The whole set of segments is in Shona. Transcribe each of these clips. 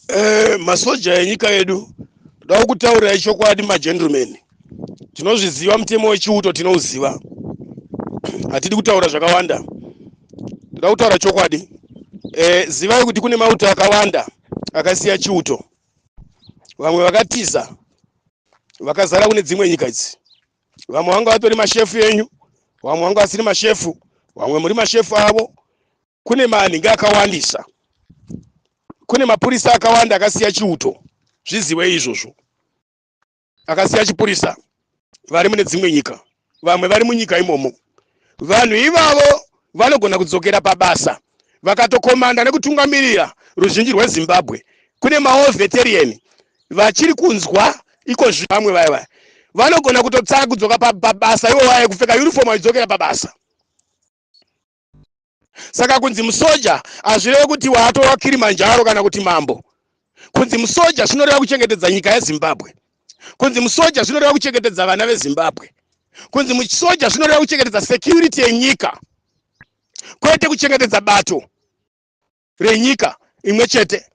Eh, masoja enyika yedu toda kutaurira ichokwadi magentlemen tinozviziva mutemo wechiuto tinouziva hatidi kutaura zvakawanda toda kutaura chokwadi eh, zivai kuti kune mauto akawanda akasiya chiuto vamwe vakatiza vakazara kune dzimwe nyika idzi vamwe vanga vatori mashefu enyu vamwe vanga vasiri mashefu vamwe muri mashefu avo kune manhingi akawandisa kune mapurisa akawanda akasiya chiuto zviziwei izvozvo akasiya chipurisa vari mune dzimwe nyika vamwe vari munyika imomo Vanhu ivavo vanogona kudzokera pabasa vakatokomanda nekutungamirira ruzhinji rweZimbabwe. Kune mawo veteran vachiri kunzwa ikozvi vamwe vaya vaya vanogona kutotsa kudzoka pabasa ivo vaya kupfeka uniform vaidzokera pabasa. saka kunzi musoja hazvireve kuti waatova kirimanjaro kana kuti mambo kunzi musoja zvinoreva kuchengetedza nyika yezimbabwe kunzi musoja zvinoreva kuchengetedza vana vezimbabwe kunzi musoja zvinoreva kuchengetedza security yenyika kwete kuchengetedza bato renyika imwe chete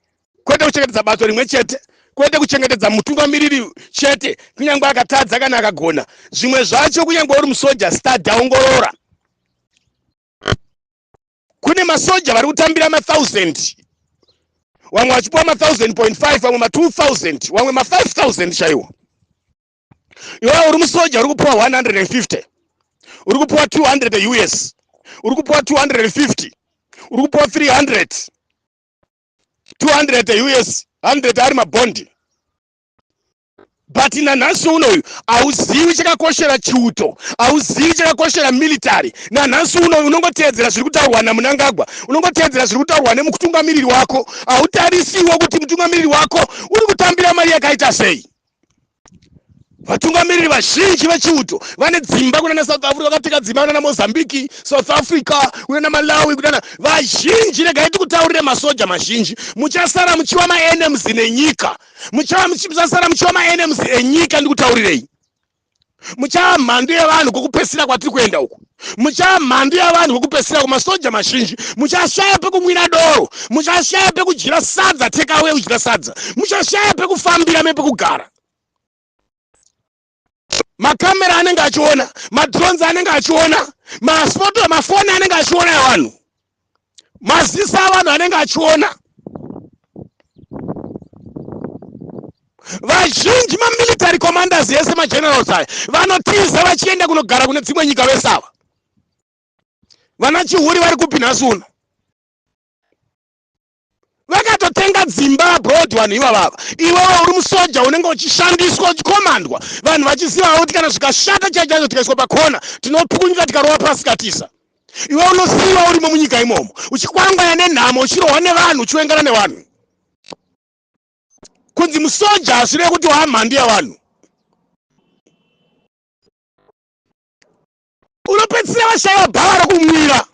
kwete kuchengetedza bato rimwe chete kwete kuchengetedza mutungamiriri chete kunyange akatadza kana akagona zvimwe zvacho kunyange uri musoja stadha ongorora kune masoja vari kutambira mathousand vamwe vachipiwa mathousand point five vamwe ma2000 vamwe ma5000 chaiwo iwewe uri musoja uri kupiwa 150 uri kupiwa 200 the us uri kupiwa 250 uri kupiwa 300 200 the us 100 ari mabhondi but nanhasi uno uyu hauzivi chakakoshera chiuto hauzivi chakakoshera military nanhasi uno uyu unongoteedzera zviri kutaurwa namunangagwa unongoteedzera zviri kutaurwa nemukutungamiriri wako hautarisiwo kuti mutungamiriri wako uri kutambira mari yakaita sei vatungamiriri vazhinji vechiuto vane dzimba kunana south africa vakatenga dzimba kunana mozambique south africa kunana malawi kunana vazhinji regai tikutaurire masoja mazhinji muchasara muchiwa maenems nenyika muchasara muchiwa maenems enyika ndikutaurirei muchava mhandu yevanhu kwokupesira kwatiri kuenda uku muchava mhandu yavanhu kwokupesira uku masoja mazhinji muchashaya pekumwira doro muchashaya pekudyira sadza tekawe udyira sadza muchashaya pekufambira mepekugara makamera anenge achiona madrons anenge achiona mafoto mafoni anenge achiona evanhu maziso avanhu anenge achiona vazhinji mamilitary commanders yese magenerals aya vanotiza vachienda kunogara kune dzimwe nyika vese ava vana chihuri vari kupi nhasi uno vakatotenga dzimba abroad vanhu iva vava iwewe uri musoja unenge uchishandiswa uchikomandwa vanhu vachizivawo kuti kana zvikashata chai chaicho tikaiswa pakona tinopukunyuka tikarova pasi katisa iwe unosiiwa urimo munyika imomo uchikwangwaya nenhamo uchirohwa nevanhu uchiwengana nevanhu kunzi musoja hazvire kuti waamhandi yavanhu unopedzisira vashaiwa bhava rokumwira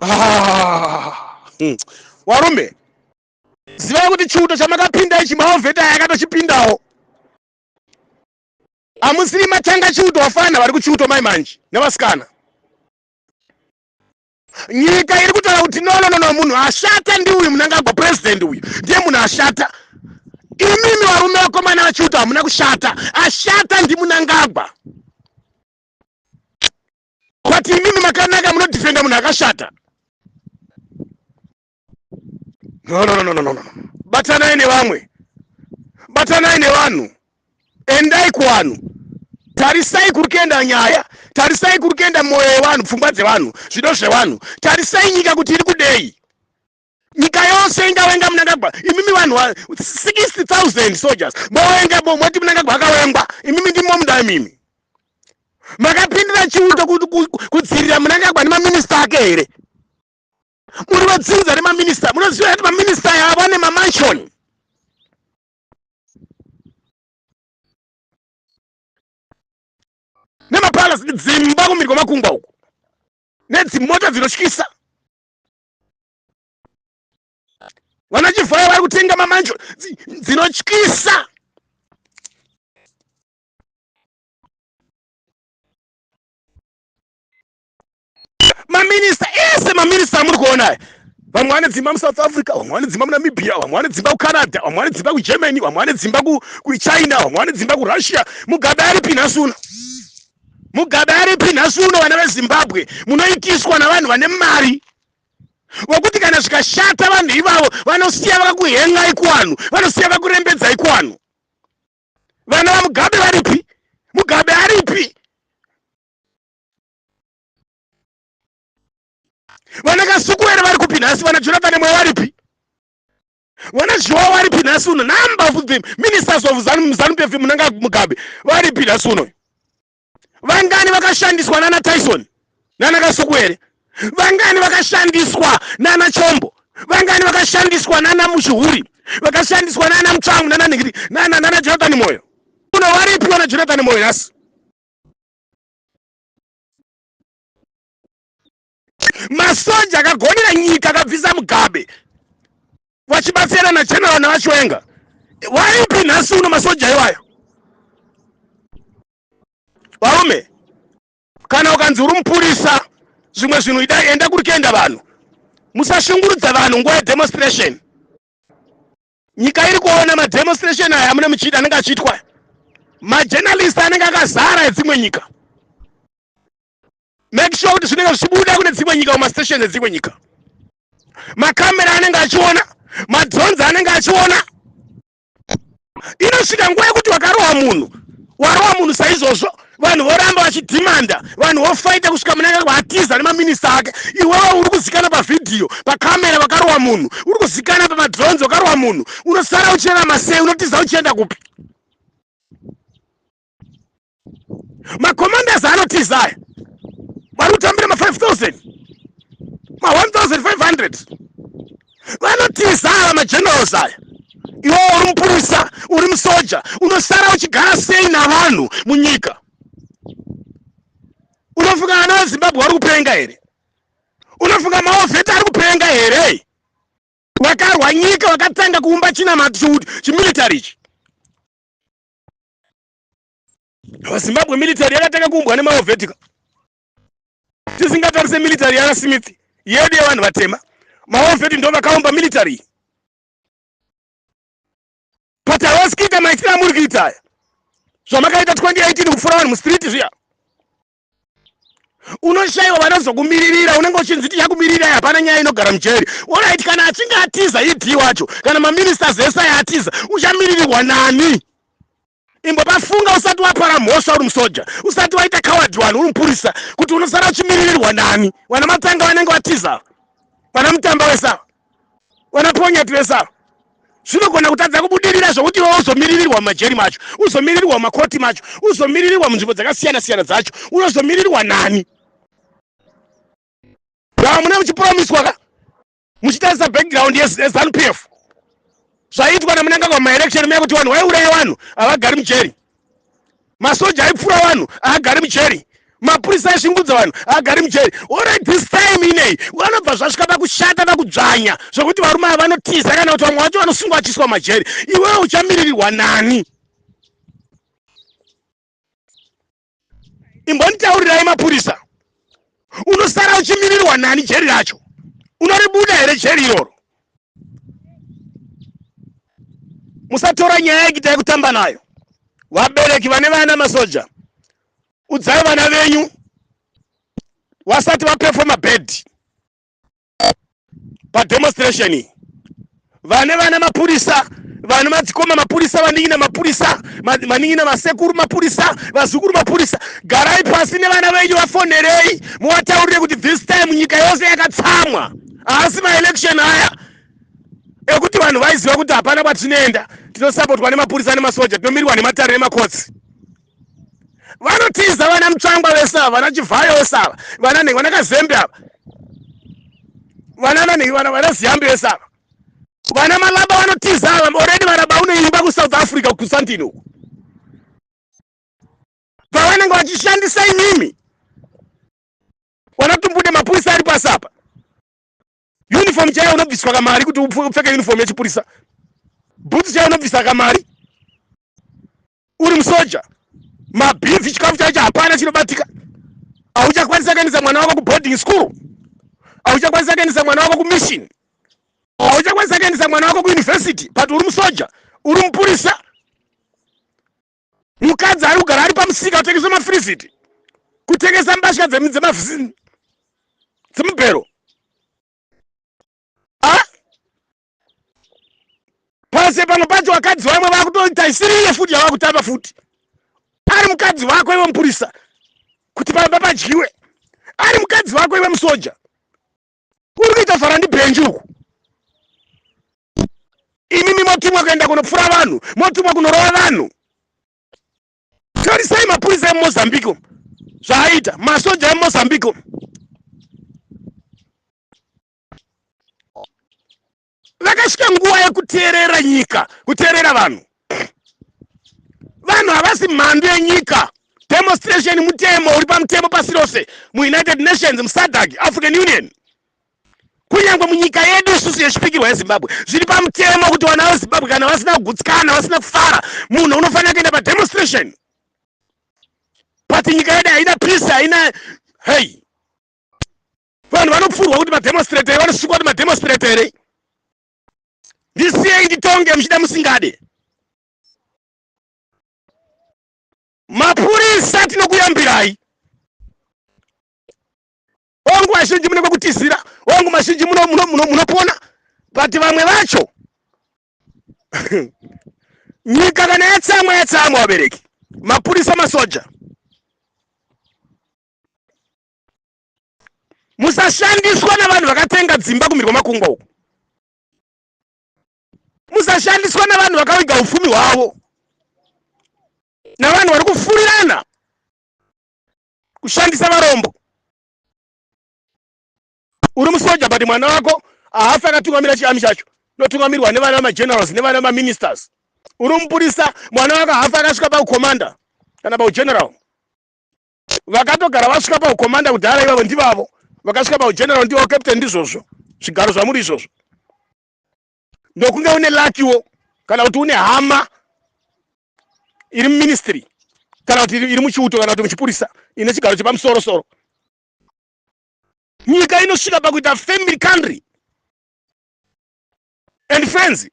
Ah, hmm. warume zivai kuti chiuto chamakapinda ichi maovheta yakatochipindawo amusiri matanga chiuto vafana vari kuchiuto mai manje nevasikana nyika iri kutaura kuti nononono munhu ashata ndiuyu munangagwa president uyu ndiye munhu ashata imimi varume vakomana vachiuto hamuna kushata ashata ndimunangagwa but imimi makanaka munodefenda munhu akashata no no no no no batanai nevamwe batanai nevanhu endai kuvanhu tarisai kuri kuenda nyaya tarisai kuri kuenda mwoyo yevanhu pfungwa dzevanhu zvido zvevanhu tarisai nyika kuti iri kudei nyika yose ingawenga munangagwa imimi vanhu 60000 soldiers mowenga moti munangagwa akawengwa imimi ndimo muda imimi makapindira chiuto kudzirira munangagwa nemaminista ake here muri vedzinza remaminista munoziva kuti maminista yavo ane mamanshoni nemapalasi dzimba kumiri kwemakungwa uku nedzimota dzinotyisa vana chivhaya vari kutenga mamanjo dzinotyisa maminista ese maminista amuri kuona aya vamwe vane dzimba musouth africa vamwe vane dzimba munamibia vamwe vane dzimba kucanada vamwe vane dzimba kugermany vamwe vane dzimba kuchina vamwe vane dzimba kurussia mugabe aripi nhasi uno mugabe aripi nhasi uno vana vezimbabwe munoitiswa navanhu vane mari vokuti kana zvikashata vanhu ivavo vanosiya vakakuhengai kuvanhu vanosiya vakurembedzai kuvanhu vana vamugabe varipi mugabe aripi vana kasukuwere vari kupi nhasi vana jonathan mwe varipi mwana zviwa waripi nhasi uno number of the ministers of zanu zanupf munanga mugabe waripi nhasi uno vangani vakashandiswa nana tyson nana kasuku here vangani vakashandiswa nana chombo vangani vakashandiswa nana mushihuri vakashandiswa nana mutsvangu nana nigiri nana nana jonathan moyo uno waripi wana jonathan moyo nhasi masoja akagonera nyika akabvisa mugabe vachibatsira nageneral navachiwenga waipi nhasi uno masoja iwayo varume kana ukanzi uri mupurisa zvimwe zvinhu idai enda kuri kuenda vanhu musashungurudza vanhu nguva yedemonstration nyika iri kuona mademonstration aya amune muchiita anenge achiitwa majenalist anenge akazara edzimwe nyika make sure kuti zvinenge zvichibuda kune dzimwe nyika kumastation edzimwe nyika makamera anenge achiona madrones anenge achiona inosvika nguva yekuti wakarohwa munhu warohwa munhu saizvozvo vanhu voramba vachidhimanda vanhu vofaita kusvika munenge vatiza nemaminista ake iwewe uri kuzikana pavhidhiyo pakamera vakarohwa munhu uri kuzikana pamadrones vakarohwa munhu unosara uchirarama sei unotiza uchienda kupi macommanders anotiza aya vari kutambira ma 5000 ma 1500 vanotiza ava magenerals aya iwo uri mupurisa uri musoja unosara uchigara sei navanhu munyika unofunga vana vezimbabwe vari kupenga here unofunga maovheti ari kupenga here vakarwa nyika vakatanga kuumba chinamato chimilitary ichi Our Zimbabwe military yakatanga kuumbwa nemaovetika tisingatarise military yana Smith yedu yevanhu vatema maoveti ndo vakaumba military but havasi kuita maitiro amuri kuita aya zvamakaita 2018 kupfura vanhu mustreet zviya unoshaiwa vanozokumiririra unenge uchinzi tichakumiririra hapana nyaya inogara mujeri orit kana achinge atiza ed wacho kana maministers ese aya atiza uchamiririrwa nani imbopafunga usati wapara mhosva uri musoja usati waita kawadi wanhu uri mupurisa kuti unosara uchimiririrwa nani vana matanga vanenge vatiza vana mutamba wese ava vanaponyati vese ava zvinogona kutadza kubudirira zvokuti iwe uzomiririrwa mumajeri macho uzomiririrwa mumakoti macho uzomiririrwa munzvimbo dzakasiyana siyana dzacho unozomiririrwa nani zvamune muchipromiswa ka muchitarisa background yezanu p f zvaiitwa namunangagwa mumaelection muya kuti vanhu vaiuraya vanhu havagari mujeri masoja aipfura vanhu haagari mujeri mapurisa aishingudza vanhu haagari mujeri ore this time inei vanobva zvasvika pakushata pakudzvanya zvekuti varume ava vanotiza kana kuti vamwe vacho vanosungwa vachiiswa majeri iwewe uchamiririrwa nani imbonditaurirai mapurisa unosara uchimirirwa nani jeri racho unoribuda here jeri iroro musatora nyaya yekita yekutamba nayo vabereki vane vana masoja udzai vana venyu vasati vapefoma bed pademonstration iyi vane vana mapurisa vana madzikoma mapurisa vaningina mapurisa vaningina vasekuru mapurisa vazukuru mapurisa garai pasi nevana venyu vafonerei muvataurire kuti this time nyika yose yakatsamwa haasi maelection aya ekuti vanhu vaiziva kuti hapana kwatinoenda tinosapotwa nemapurisa nemasoja tinomirwa nematare nemakotsi vanotiza vana mutsvangwa vese ava vana chivhayo vese ava vana nei vana kazembe ava vana nanei vana vana ziyambi vese ava vana malaba vanotiza ava oredi varaba unoimba kusouth africa kusantini uku pavanenge vachishandisa imimi Wana tumbude mapurisa ari pasi apa. Uniform chaiyo unobviswa kamari kuti upfeke uniform yechipurisa. Boots chaiyo unobvisa kamari. Uri musoja. Mabhivi chikafu chaicho hapana chinobatika. Hauchakwanisa kuendesa mwana wako kuboarding school. Hauchakwanisa kuendesa mwana wako kumission. Hauchakwanisa kuendesa mwana wako kuuniversity but uri musoja, uri mupurisa. mukadzi ari kugara ari pamusika kutengesa mafiriziti kutengesa mbatya dzemubhero pase pamwe pacho vakadzi vamwe vakutoita isiriye futi yavakutamba futi ari mukadzi vako iwe mupurisa kuti pamba padyiwe ari mukadzi vako iwe musoja uri kuita fara ndibhenji uku imimi motumwa kuenda kunopfura vanhu motumwa kunorova vanhu tarisai mapurisa emumozambique zvaaita masoja emumozambique vakasvika nguva yekuteerera nyika kuteerera vanhu vanhu havasi mhandu yenyika demonstration mutemo uri pamutemo pasi rose muunited nations musadag african union kunyange munyika yedu isusu yechipikirwa yezimbabwe zviri pamutemo kuti vana vezimbabwe kana vasina kugutsikana vasina kufara munhu unofanira kuenda pademonstration but nyika yedu haina peace haina hei vanhu vanopfurwa kuti mademonstrate here vanosvikwa kuti mademonstrate here ndisiyei nditonge muchida musingade mapurisa tinokuyambirai wangu vazhinji mune kwekutizira wangu mazhinji munopona muno, muno, muno but vamwe vacho nyika kana yatsamwa yatsamwa vabereki mapurisa masoja musashandiswa navanhu vakatenga dzimba kumirwa makungwa uku musashandiswa navanhu vakaviga upfumi hwavo navanhu vari kufurirana kushandisa varombo uri musoja but mwana wako haafi akatungamira chiami chacho ndotungamirwa nevana vamagenerals nevana vamaministers uri mupurisa mwana wako haafi akasvika paucommander kana paugeneral vakatogara vasvika paucommander kudhara ivavo ndivavo vakasvika paugeneral ndivo captain ndizvozvo zvigaro zvamuri izvozvo ndokunge une lakiwo kana kuti une hama iri muministry kana kuti iri muchiuto kana kuti muchipurisa ine chigaro chepamusoro soro nyika inosvika pakuita family country and friends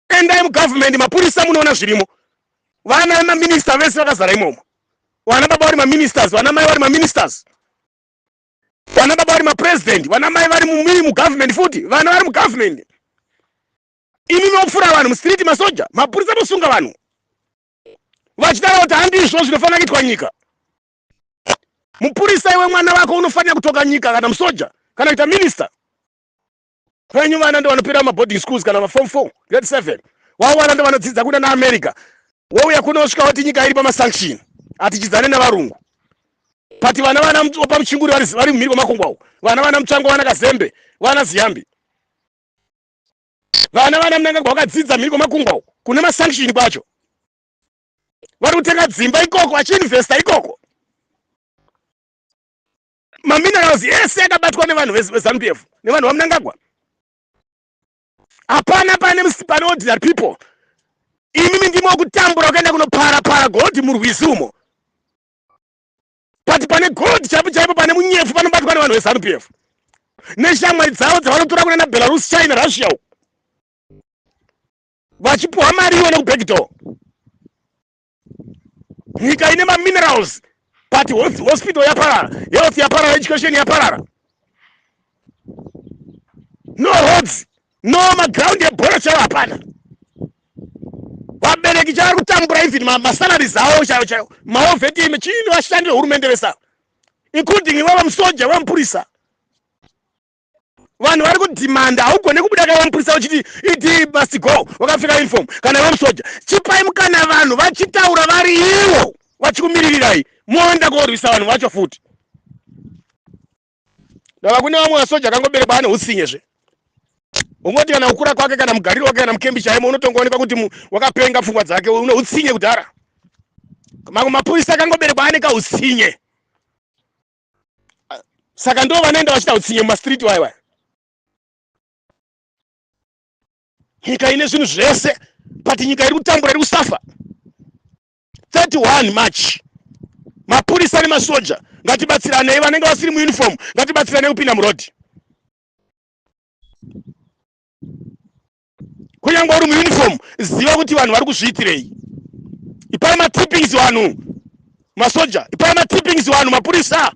endai mugovernment mapurisa munoona zvirimo vana vemaminista vese vakazara imomo vana baba vari maministers vana mai vari maministers vana baba vari mapresident vana mai vari mumii mugovernment futi vana vari mugovernment imi mopfura vanhu mustreet masoja mapurisa mosunga vanhu vachitaura kuti handizvo zvinofanira kuitwa nyika mupurisa iwe mwana wako unofanira kutoka nyika kana musoja kana kuita minista kwenyu vana ndo vanopera maboarding schools kana maform four grade seven wavo vana ndo vanodzidza kuenda naamerica wouya kunosvika woti nyika iri pamasanction hatichidzane nevarungu but vana vana pamuchinguri vari mumhiri kwemakungwa uko vana vana mutsvango vana kazembe vana ziyambi vana vana munangagwa vakadzidza mhiri kwemakungwa uko kune masanction kwacho vari kutenga dzimba ikoko vachiinvesta ikoko maminerals ese akabatwa nevanhu vezanu pf nevanhu vamunangagwa hapana pane pane ordinary people imimi ndimi wakutambura ukaenda kunopara para gold murwizi umo but pane gold chaipo chaipo pane munyefu panobatwa nevanhu veZanu PF neshamwari dzavo dzavanotora kunana Belarus China Russia uko vachipuhwa mari ivo nekubackdoor nyika ine maminerals but hospital yaparara health yaparara education yaparara no roads no maground ebhora chaiwo hapana vabereki chavari kutambura even masalaries avo chaiwo chaiwo maovetime chii nevashandi vehurumende vese avo including iwe vamusoja vamupurisa vanhu vari kudhimanda haugone kubuda ka vamupurisa uchiti idi must go wakapfeka uniform kana vamusoja chipai mukana vanhu vachitaura vari ivo vachikumirirai moenda korwisa vanhu vacho futi Ndava kune vamwe vasoja akangoberekwa ane hutsinye zve. Ungoti kana kukura kwake kana mugariro wake kana mukembi chaimo unotongoonekwa kuti wakapenga pfungwa dzake une hutsinye kudhara. Mamwe mapurisa akangoberekwa ane kahutsinye. Saka ndo vanoenda vachita hutsinye mumastreet waye waye. Nyika ine zvinhu zvese but nyika iri kutambura iri kusafa. 31 march mapurisa nemasoja ngatibatsiranei vanenge vasiri muuniform ngatibatsiranei kupinda murodhi kunyange uri muuniform ziva kuti vanhu vari kuzviitirei ipai matippings vanhu masoja ipai matippings vanhu mapurisa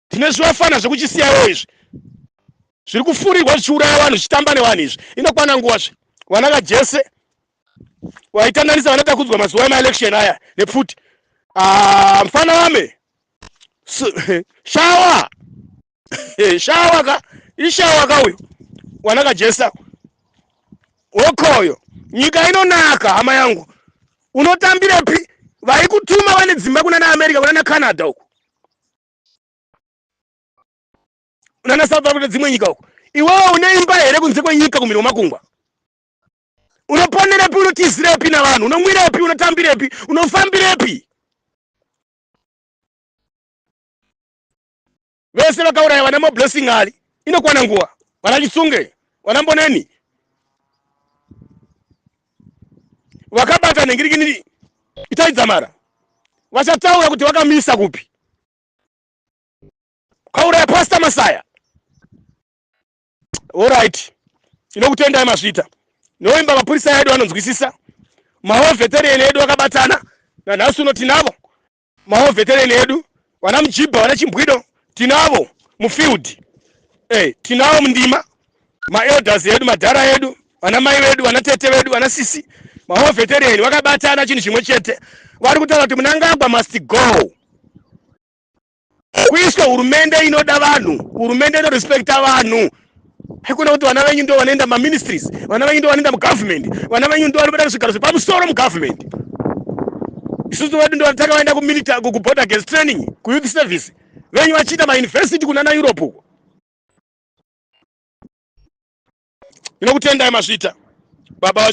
tine zvivafana zvekuchisiyawo izvi zviri kufurirwa zvichiuraya vanhu zvichitamba nevanhu izvi inokwana nguva zve vana vajese vaitandanisa vana takudzwa mazuva emaelection aya nepfuti ah, mfana wame shawa eh, shawa ka ishawa ka uyo vana kajese ako hokoyo nyika inonaka hama yangu unotambirepi vaikutuma vane dzimba kunana america kunana canada uku kunana south africa dzimwe nyika uko iwewe une imba here kunze kwenyika kumhiri kwemakungwa unoponerepi unotizirepi navanhu unomwirepi unotambirepi unofambirepi vese vakauraya vana mablessing ali inokwana nguva vana chisunge vana mboneni vakabata nhengirikini itaidzamara vachataura kuti vakamisa kupi ukauraya pastor masaya orit tinokutendai masvita noimba mapurisa edu anonzwisisa maho vetereni edu akabatana nanhasi uno tinavo maho vetereni edu vana mujibha vana chimbwido tinavo mufield hey, eh, tinavo mundima maelders edu madhara edu vana mai vedu vana tete vedu vana sisi maho vetereni vakabatana chinhu chimwe chete vari kutaura kuti munangagwa must go kuiswa hurumende inoda vanhu hurumende inorespekta vanhu haikona kuti vana venyu ndo vanoenda maministries vana venyu ndo vanoenda mugovernment vana venyu ndo vanobuda kuzvigaro zvepamusoro mugovernment isusu vedu ndo takaenda kumilita kuborder against training kuyouth service venyu vachiita mauniversity kunana europe uko inokutendai mazvita baba vachino